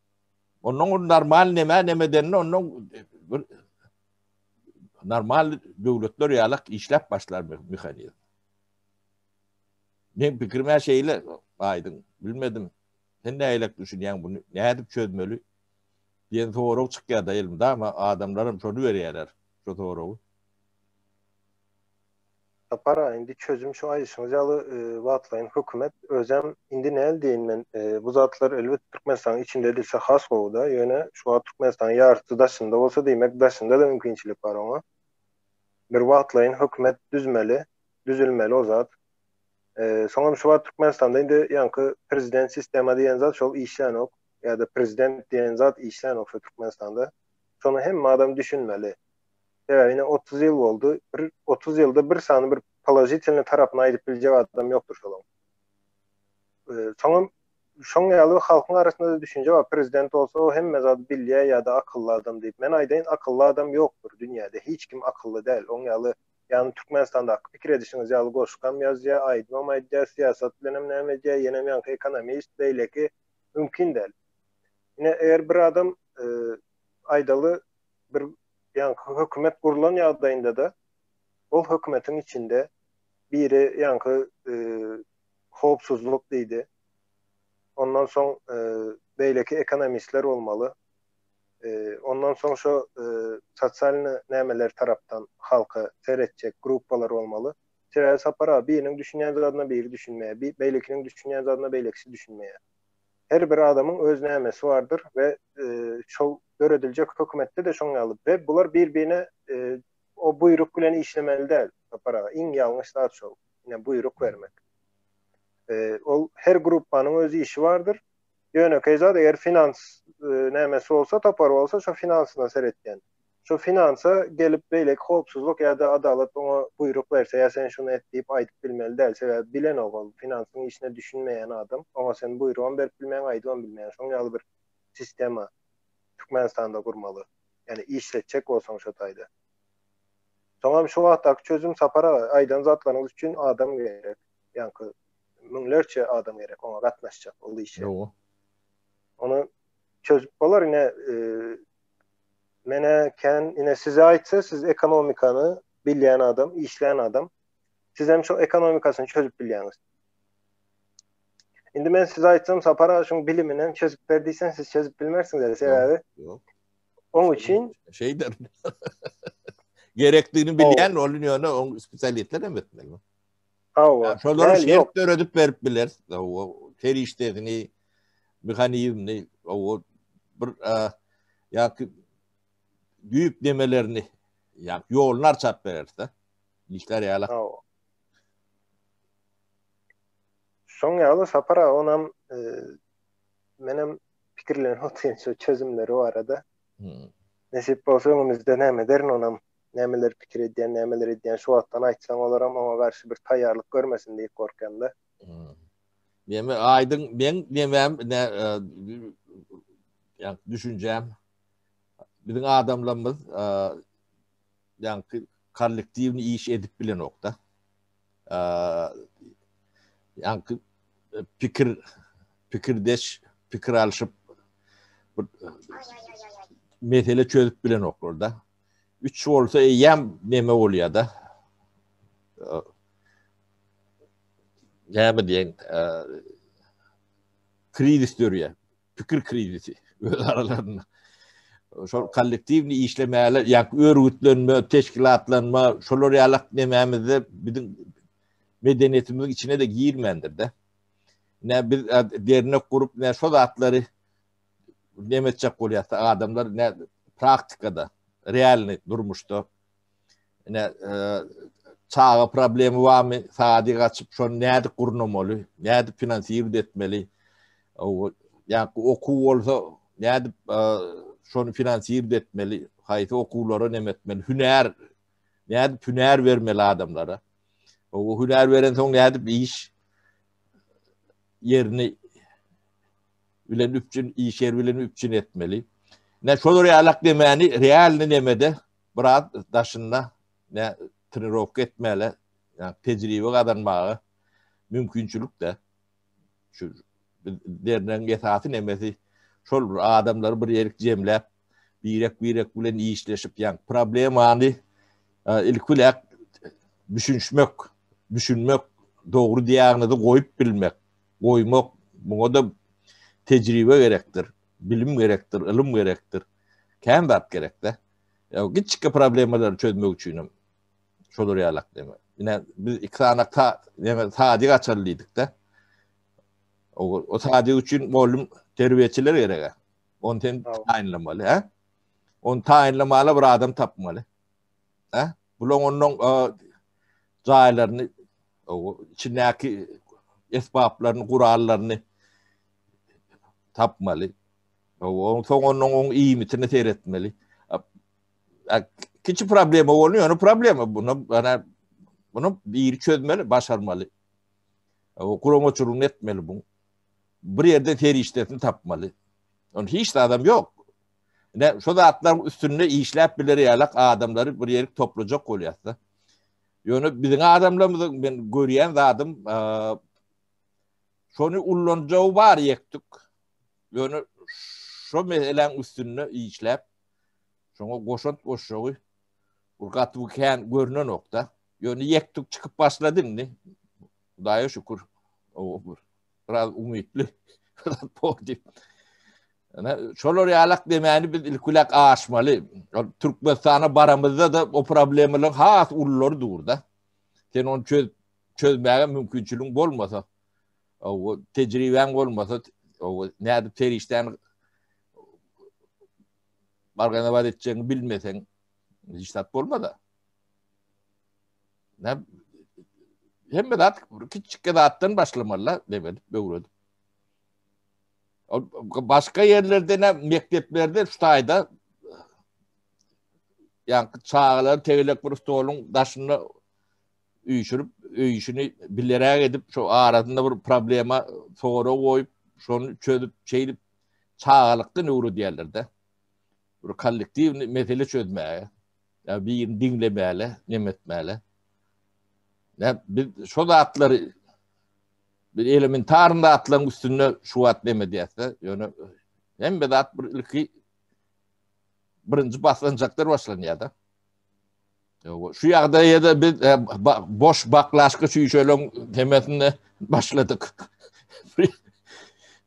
Ondan normal neme neme denli ondan bir normal döwletler ýalak işläp başlar mehanizm. Men pikirime şeýle aýdyň, bilmedim. Sen näýlek düşünýäň bunu? Nädip çözmeli? Diýen sorag çykýar da elimde, ama adamlarym şony berýärler, şu soragy. Sapar-a, indi çözüm şu aýdyşyňyz ýaly wagtlaýyn hökümet özem indi näl diýin men, bu zatlar elbet Türkmenistanyň içinde edilse has gowy-da, ýöne şu wagt Türkmenistanyň ýarysy daşynda bolsa diýmek daşynda-da mümkinçilik bar oňa. Bir wagtlaýyn hökümet düzmeli, düzülmeli o zat. Soňam şu wagt Türkmenistanda indi ýaňky prezident sistema diýen zat şol işlänok ýa-da prezident diýen zat işlänok şu Türkmenistanda. Şony hemme adam düşünmeli. Sebäbi ine otuz ýyl boldy. Bir otuz ýylda bir sany bir položitelni tarapyny aýdyp biljek adam ýokdur şolaň. Soňam şoň ýaly halkyň arasynda da düşünje bar. Prezident bolsa o hemme zady bilýär ýa-da akylly adam diýip. Men aýdaýyn, akylly adam ýokdur dünýäde. Hiç kim akylly däl. Oň ýaly ýagny Türkmenistandaky pikir edişiňiz ýaly goşgam ýazýar, aýdymam aýdýar, syýasat bilenem näme edýär, ýenem ýaňky ekonomist, beýleki mümkin däl. Ine eger bir adam aýdaly bir yani hökümet gurlan ýagdaýynda da ol hökümetiň içinde biri yani e, howpsuzlyk diýdi. Ondan soň e, beýleki ekonomistler bolmaly. E, ondan soň şu e, sosialny nämeler tarapdan halka seretjek gruppalar bolmaly. Sebäbi sapar abi biriniň düşünýän zadyna biri düşünmeýär. Beýlekiniň düşünýän zadyna beýlekisi düşünmeýär. Her bir adamyň öz nämesi bardyr we şol dörediljek hökümetde-de şoň ýaly we bular bir-birine o buýruk bilen işlemeli däl, Sapar aga, iň ýalňyş zat şol, ine, buýruk bermek. Ol her gruppanyň öz işi bardyr. Ýönekeý zat, eger finans nämesi bolsa, topar bolsa, şo finansyna seretýän. Şu finansa gelip beýleki howpsuzlyk ýa-da adalat oňa buýruk berse ýa sen şuny et diýip aýdyp bilmeli däl. Sebäbi bilenok ol, finansyň işine düşünmeýän adam. Oňa sen buýrugam berip bilmeýäň, aýdybam bilmeýäň. Şoň ýaly bir sistema Türkmenistanda gurmaly. Ýani işletjek bolsaň şo taýda. Soňam şu wagtdaky çözüm Sapar aga, aýdan zatlaryňyz üçin adam gerek. Ýanky müňlerçe adam gerek oňa gatnaşjak ol işe. Ýoga. Ony çözüp bolar ine Menä kän ine size aýtsa siz ekonomikany bilýän adam, işlän adam. Siz hem şu ekonomikasyny çözüp bilýäňiz. Indi men size aýtsam Sapar aga şuň bilimini hem çözüp ber diýsem siz çözüp bilmersiňiz eli sebäbi. Ýok. Oň üçin şeýder. Gerekdigini bilýän ol ýöne oň spesialistler hem etmeli. Hawa. Şolara şert döredip berip bileris. Hawa. Serişdesini, mehanizmini, hawa, bir ýa-ki düýplemelerini, ýa-ki ýoluny arçap bereris-de. Işler ýala. Hawa. Şoň ýaly Sapar aga onam e, menem pikirlenip otyryn şu çözümleri barada. Hmm. Nesip bolsa öňümizde näme derin onam nämeleri pikir edýän, nämeleri edýän, şu wagtdan aýtsaň olaram oňa garşy bir taýýarlyk görmesin diýip gorkýan-da. Men hmm. aýdyň, men demem, ne, ýa düşünjäm. Biziň adamlarymyz ýa-ni kollektiwni iş edip bilenokda. Ýa-ni pikir pikirdeş, pikir alşyp bir mesele çözüp bilenoklar da. 3 bolsa eýýäm neme bolýar-da. Näme diýen, krizis dörýär. Pikir krizisi öz aralarynda. Şol kollektiwni işlemäle, ýa-da örgütlenme, teşkilatlanma, şolar ýaly nemämizde biziň medeniýetimiziň içine de girmändir-de. Nä biz dernek gurup, nä şol zatlary näme etjek bolýarsa adamlar ne praktikada realny durmuşda ne e, çaga problemi barmy sady gaçyp şony nädi gurnamaly nädi finansirowat etmeli ýa okuw bolsa nädi e, şony finansirowat etmeli haýsy okuwlara näme etmeli hünär nädi hünär bermeli adamlara o hünär beren soň nädi iş yerini bilen üpjün iş ýeri bilen üpjün etmeli. Ne şolar ýalak demeni realny nemede biraz daşynda ne trenirowka etmäle, yani tejribe gazanmaga mümkinçilik de şu dernegiň esasy nemesi şol bir adamlary bir ýerik jemläp birek-birek bilen işleşip, ýa problemany ilki bilen düşünmek, düşünmek, dogry diagnozy goýup bilmek, goýmak, muňa da tejribe gerekdir, bilim gerekdir, ylym gerekdir. Kän zat gerekde. Ýa giçki problemalary çözmek üçin hem şolar ýalak deme. Ine biz iki sany ta, deme, sadi gaçalydyk da. O, o sadi üçin molum terbiýeçiler gerek. Onu sen taýynlamaly, hä? Onu taýynlamaly bir adam tapmaly. Hä? Bulaň ondan jaýlaryny, içindäki esbaplaryny, gurallaryny tapmaly. Oň soň onuň oň iýmitini seretmeli. Kiçi problema bolýar, ýöne problema bunu, ýöne bunu biri çözmeli, başarmaly. O guramaçylygyny etmeli bu. bir ýerde serişdesini tapmaly. Ony hiç zadam ýok. Ne şu zatlaryň üstünde işläp biler ýalak adamlary bir ýerik toplajak bolýarsa. Ýöne biziň adamlarymyzyň men görýän zadym şony ullanjagy bar ýekdik. Ýöne şu meseläň üstünde işläp şoňa goşant goşjagy bir gaty kän görnenokda. Ýöne ýekdik çykyp başlady indi. Hudaýa şükür, bir biraz umytly, biraz pozitif. Ana şolar ýalak demäni biz ilkulak aşmaly. Türkmenistana baramyzda da o problemalaryň has ullary durda. Sen onu çöz çözmäge mümkinçiligiň bolmasa, o tejribäň bolmasa, o nädip serişden bargana bar etjegini bilmesen, hiç zat bolmaz. Näm? Hemme zat kiçik zatdan başlamaly, demedi, öwredi. Başga ýerlerde näm mekdeplerde şu taýda ýa-da çagalar tegelek bir stoluň daşynda üýşürip, öýüşini bileräk edip, şu arasynda bir problema sora goýup, şony çözüp, çeýdip çagalykdan öwredýärler-de. Bir kollektiw mesele çözmäge. Ya birini diňlemäle, nem etmäle. Ne biz şu zatlary bir elementarny zatlaryň üstünde şu wagt nem edýärse, ýöne hemme zat bir ilki birinji baslanjaklar başlanýar da. Şu ýagdaýda biz e, boş baklaşka şüşeleň hemmesini başladyk.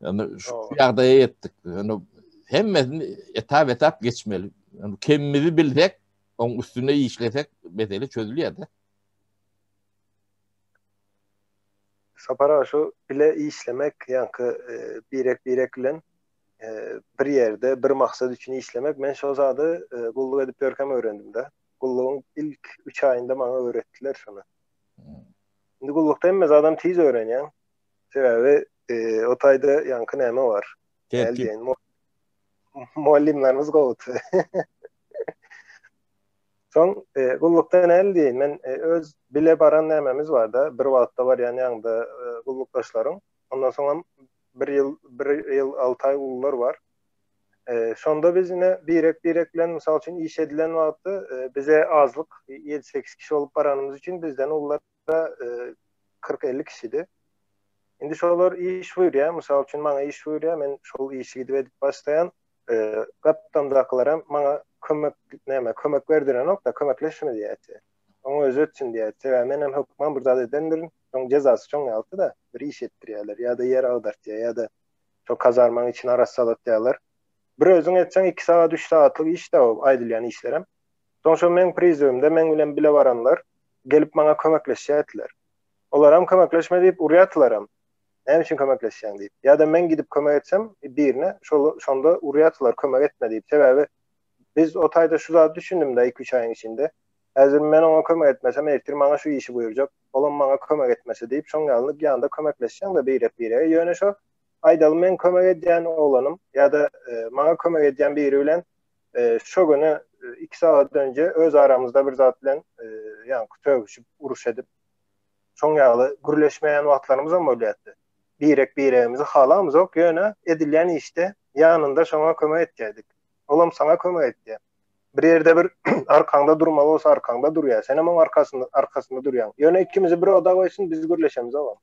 Yani şu ýagdaýa ýetdik. Yani hemmesini etap etap geçmeli. Yani kemimizi bilsek, onun üstünde işlesek mesele çözülýär de. Sapara şu bile işlemek, yani e, birek birek bilen e, bir yerde bir maksat için işlemek. Men şu zadı e, gulluk edip görkem öğrendim de. Gulluğun ilk 3 ayında bana öğrettiler şunu. Hmm. Şimdi gullukda hem adam tiz öğreniyor. Sebebi e, o tayda yankı neme var. Tertip. Mugallymlarymyz gowudy. Soň e, gullukda näme diýin? Men e, öz bile baran nämemiz barda, bir wagtda barýan ýaňda e, gullukdaşlaryň. Ondan soň hem bir ýyl, bir ýyl 6 aý gullar bar. E, şonda biz ine birek birek bilen mysal üçin iş edilen wagtda e, bize azlyk 7-8 kişi bolup baranymyz üçin bizden ullar wagtda kyrk-elli kişidi. Indi şolar iş buýurýar, mysal üçin, maňa iş buýurýar, men şol işi gidip edip başlaýan. Gapdamdakylaram maňa kömek näme, kömek berdirenok-da, kömekleşme diýýär. Oňa özi etsin diýýär. Sebäbi men hem hökman bir zat edendirin, şoň jezasy şoň ýalta-da, bir iş etdirýärler, ýa-da ýer agdartýar, ýa-da şo kazarmaň içini arassalatýarlar. Bir özüň etseň, iki sagat, üç sagatlyk iş-dä o aýdylýan işlerem. Soň şo meň prizewimde meň bilen bile baranlar, gelip maňa kömekleşýärdiler. Olaram kömekleşme diýip urýardylaram. Näme üçin kömekleşýäň diýip. Ýa-da men gidip kömek etsem birine, şol şonda urýardylar kömek etme diýip. Sebäbi biz o taýda şu zady düşündimde iki-üç aýyň içinde. Häzir men oňa kömek etmesem ertir maňa şu işi buýurjak. Olam maňa kömek etmese diýip şoň ýaly ýanda kömekleşýäňde birek-birege. Ýöne şo aýdaly meň kömek edýän oglanym ýa-da maňa kömek edýän biri bilen Şo güni iki sagat önje öz aramyzda bir zat bilen ýaňky tögüşip, uruş edip, şoň ýaly gürleşmeýän wagtlarymyzam bolýardy. Birek biregimizi halamyzok, ýöne edilýän işde ýanynda şoňa kömek etýärdik. Olam saňa kömek etýär. Bir ýerde bir arkaňda durmaly bolsa arkaňda durýar. Senem oň arkasynda, arkasynda durýaň. Ýöne ikimizi bir oda goýsun, biz gürleşemizogam.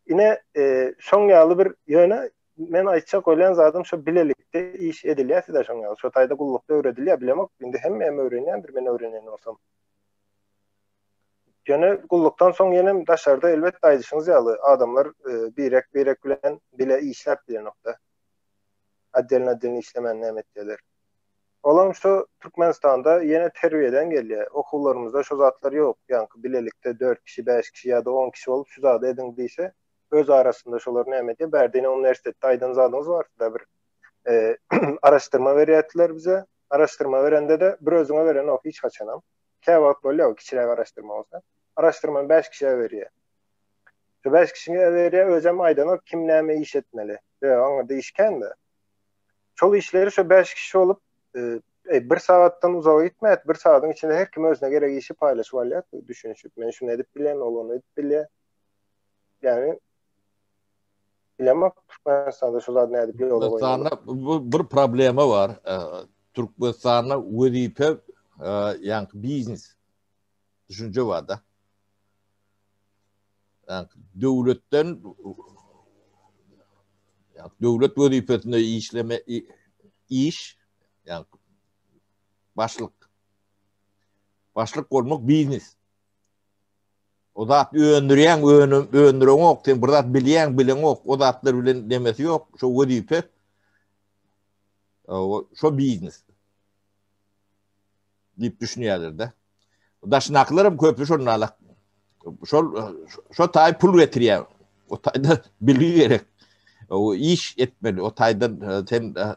Ine, e, şoň ýaly bir ýöne Men aýtjak ölen zadym şu bilelikde iş edilýär size şoň ýaly. Şu taýda gullukda öwredilýär bilemok. Indi hem hem öwrenýändir men öwrenýän bolsam. Ýöne gullukdan soň ýene daşarda elbetde aýdyşyňyz ýaly adamlar e, birek birek bilen bile işläp bilenokda. Addelin addelin işlemän näme etýärler. Olam şu Türkmenistanda ýene terbiýeden gelýär. Okuwlarymyzda şu zatlar ýok. Ýaňky bilelikde 4 kişi, 5 kişi ýa-da 10 kişi bolup şu zady ediň diýse, öz arasynda şolar näme diýip bärdine uniwersitetde aýdan zadyňyz barsyda bir araşdyrma berýärdiler bize araşdyrma berende de bir özüňe beren ok hiç haçanam kä wagt bolýa o kiçiräk araşdyrma bolsa araşdyrmany bäş kişiä berýä şu bäş kişiňe berýä özem aýdan ok kim näme iş etmeli ýa aňa diýişkände şol işleri şu bäş kişi bolup e, bir sagatdan uzaga gitmät bir sagadyň içinde her kim özüne gerek işi paýlaşyp alýar düşünişip men şunu edip bilýän ol ony edip bilýär Yani bilemok Türkmenistanda şu zat nädip ýola Türkmenistanda bu bir problema bar. E, Türkmenistanda wezipe e, ýaňky biznes düşünje bar da. Ýaňky döwletden ýaňky döwlet wezipesinde işleme iş ýaňky başlyk başlyk bolmak biznes. O zat öndürýäň, önüm öndüreňok, sen bir zat bilýäň, bileňok, o zatlar bilen demesi ýok, şo wezipe. Şo biznes. Diýip düşünýärler-de. Daşyndakylar hem köpü şonda şol şo taý pul getirýär. O taýda bilgi gerek. O iş etmeli. O taýdan e, sen e,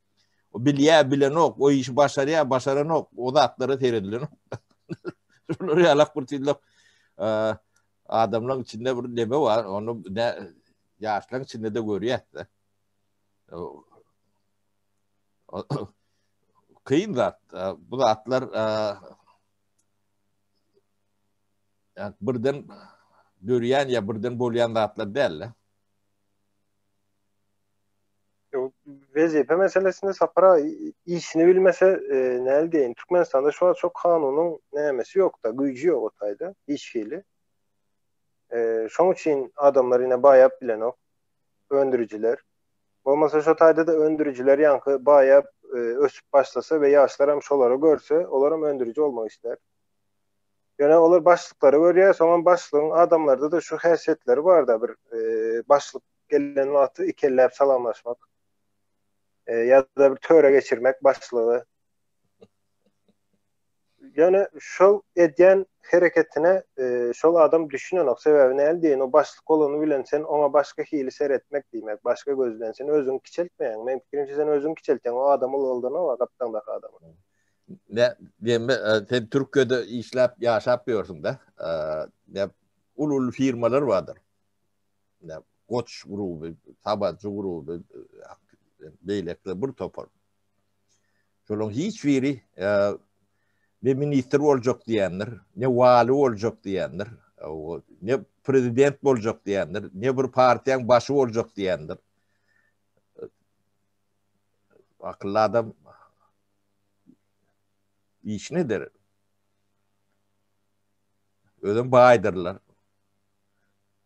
O bilýär, bilenok, o işi başarýar, başaranok, o zatlara seredilenok. Şular ýalak bir tizlik adamlaryň içinde bir neme bar, onu ne ýaşlaryň içinde de görýärdi. Kyn zat, bu zatlar yani birden dörýän ya birden bolýan zatlar däl. Wezipe meselesinde Sapar aga işini bilmese e, näl diýen. Türkmenistanda şu an çok kanunyň nämesi yok da, güýji ýok o taýda hiç hili. E, şoň üçin adamlar ine baýap bilenok. Öndürijiler. Bolmasa şu taýda da öndürijiler ýaňky baýap e, ösüp başlasa we ýaşlar hem şolara görse, olar hem öndüriji olmak ister. Ýöne olar başlyklary görýär, soňam başlygyň adamlarda da şu häsiýetleri bar da bir e, başlyk gelen wagty iki elläp salamlaşmak. E, ya da bir töre geçirmek başlygy. Yani şol edýän hereketine e, şol adam düşünenok. Sebäbi näl diýen, o başlyk bolany bilen sen ona başga hili seretmek diýmek, başga göz bilen sen özüňi kiçeltmeýäň. Men pikirimçe sen özüňi kiçeltýäň, o adam ulgaldana wa gapdaňdaky adam. Ne diýme, e, sen Türkiýede işläp, ýaşap ýörsüň-de. E, ne uly-uly firmalar bardyr. Goç gruby, Tabajy gruby, beýlekler bir topar. Şolaryň hiç biri ne ministr boljak diýendir, ne wali boljak diýendir, ne prezident boljak diýendir, ne bir partiýaň başy boljak diýendir. Akylly adam iş nedir? Özüm baýdyrlar.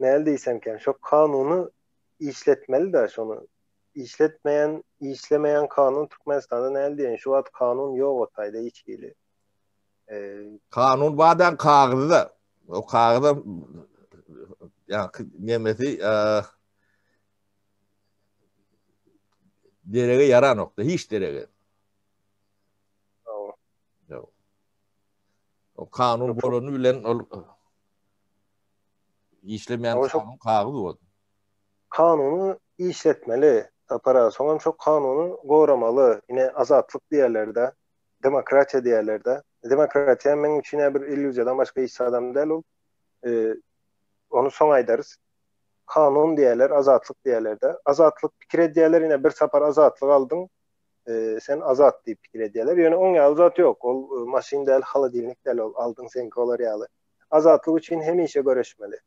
Näl diýsemken, şo kanuny işletmeli-de, şony işletmeýän, işlemeýän kanun Türkmenistanda näl diýen, şu wagt kanun ýok o taýda hiç hili. Kanun badan kagyzda. O kagyza ya nemesi derege yaranokda hiç derege. O kanun bolany bilen ol işlemeýän kanun kagyz bol. Kanuny işletmeli. Sapar aga, soňam şo kanuny goramaly. Ine, azatlyk diýerler-de, demokratiýa diýerler-de. Demokratiýa meň üçin bir illýuziýadan başga hiç zadam däl ol. E, ony soň aýdarys. Kanun diýerler, azatlyk diýerler-de. Azatlyk pikir edýärler, ine bir sapar azatlyk aldyň, e, sen azat diýip pikir edýärler. Ýöne oň ýaly zat ýok. Ol e, maşyn däl, holodilnik däl, ol aldyň sen golar ýaly. Azatlyk üçin hemişe göreşmeli.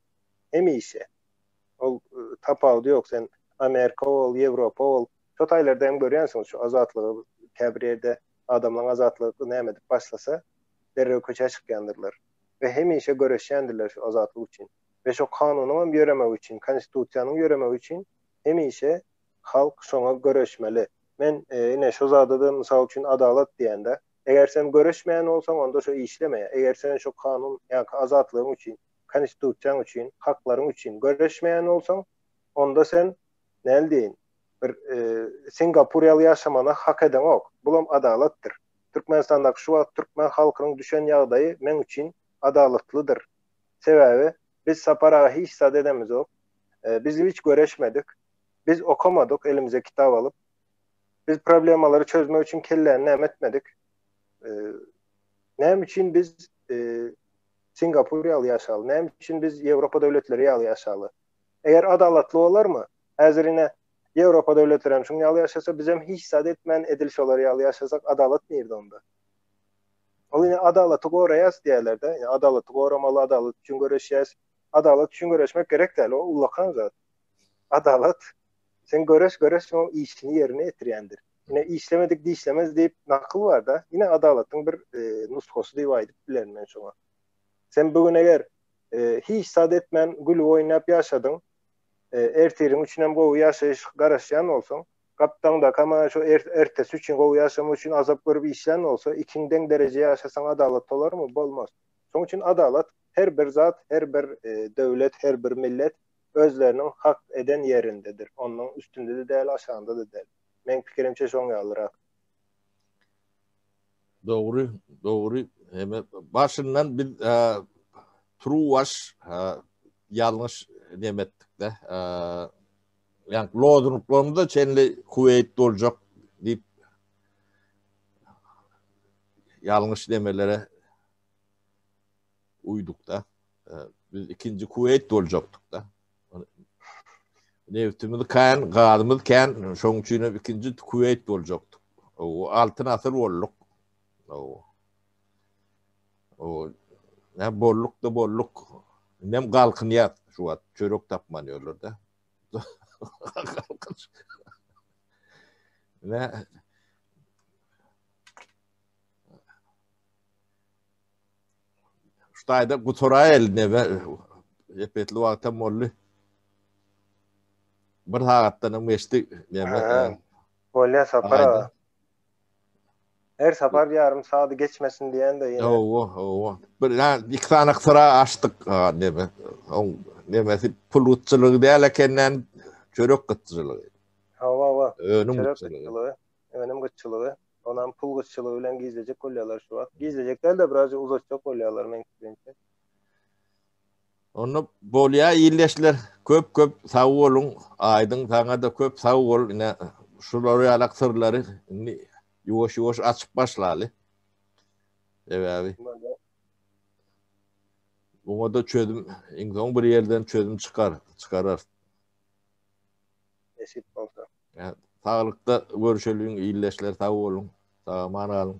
Hemişe. Ol e, tapawut ýok. Sen Amerika ol, Ýewropa ol. Şu taýlarda hem görýänsiň şu azatlygy käbir ýerde adamlaryň azatlygy näme edip başlasa, derrew köçä çykýandyrlar. Ve hemişe göreşýändirler şu azatlyk üçin. Ve şu kanunyň hem ýöremegi üçin, konstitusiýanyň ýöremegi üçin hemişe Halk şoňa göreşmeli. Men ine şo zada-da mysal üçin adalat diýende, eger sen göreşmeýän bolsaň, onda şo işleme. Eger sen şo kanun ýa-ki azatlygyň üçin, Konstitusiýaň üçin, haklaryň üçin göreşmeýän bolsaň, onda sen, näl diýeýin, bir Singapur ýaly ýaşamana hak edeňok. Bulam adalatdyr. Türkmenistandaky şu wagt türkmen halkynyň düşen ýagdaýy meň üçin adalatlydyr. Sebäbi biz Sapar aga hiç zat edemizok. Biz hiç göreşmedik. Biz okamadyk, elimize kitap alyp, biz problemalary çözmek üçin kelläni näme etmedik? Näme üçin biz Singapur ýaly ýaşaly? Näme üçin biz Ýewropa döwletleri ýaly ýaşaly? Eger adalatly bolarmy? Häzir ine Ýewropa döwletleri hem şuň ýaly ýaşasa, biz hem hiç zat etmän edil şolar ýaly ýaşasak, adalat nirde onda? Ol ine adalaty goraýas diýerler-de, ine adalaty goramaly, adalat üçin göreşýäs. Adalat üçin göreşmek gerek däl, o ullakan zat. Adalat, sen göreş göreş şoň işini ýerine ýetirýändir. Ine işlemedik dişlemez diýip nakyl bar-da, ine adalatyň bir e, nusgasy diýip aýdyp bilerin men şoňa. Sen bu gün eger e, hiç zat etmän gülüp oýnap ýaşadyň, e, ertiriň üçin hem gowy ýaşaýyş garaşýan bolsaň, gapdaňda kama şu er, ertesi üçin gowy ýaşamak üçin azap görüp işlän bolsa, ikiň deň dereje ýaşasaň adalat bolarmy? Bolmaz. Şoň üçin adalat her bir zat, her bir e, döwlet, her bir millet Özleriniň hak eden ýerindedir. Ondan üstünde-de däl, aşagynda-da däl. Meň pikirimçe şoň ýalyrak. Dogry, dogry. Heme başyndan biz Truwaş ýalňyş neme etdik-de. Ýani lozunglarymyza çenli Kuweýt boljak diýip ýalňyş nemelere uýduk-da. Biz ikinji Kuwait boljakdyk da. Neftimiz kan, gazymyz kan, şoň üçin ikinji Kuwait boljakdyk. O altyn asyr bolduk. O. O ne bolluk da bolluk. Nem galkyn yat şu wagt çörek tapman ýörler da. Ne Ştaýda guturaýyl nebe epetli wagtam boldy. Bir sagatdan hem geçdi nebe. Bolýa sapar. Her sapar bir ýarym sagat geçmesin diýende ýene. Owo, owo. Bir ýa iki sany gytura açdyk nebe. Oň nebesi pul gutçulygy däl ekenden çörek gutçulygy. Hawa, hawa. Önüm gutçulygy. önüm gytçylygy, onam pul gytçylygy bilen gizlejek bolýarlar şu wagt. Gizlejek däl-de, birazja uzatjak bolýarlar meň pikrimçe. Onda bolýa ildeşler köp köp sag boluň aýdyň saňa-da köp sag bol ine şular ýaly syrlary indi ýuwaş ýuwaş açyp başlaly. Sebäbi Buňa da çözüm iň soň bir ýerden çözüm çykar, çykarar. Nesip bolsa. Saglykda görüşeliň ildeşler sag boluň sag aman galyň.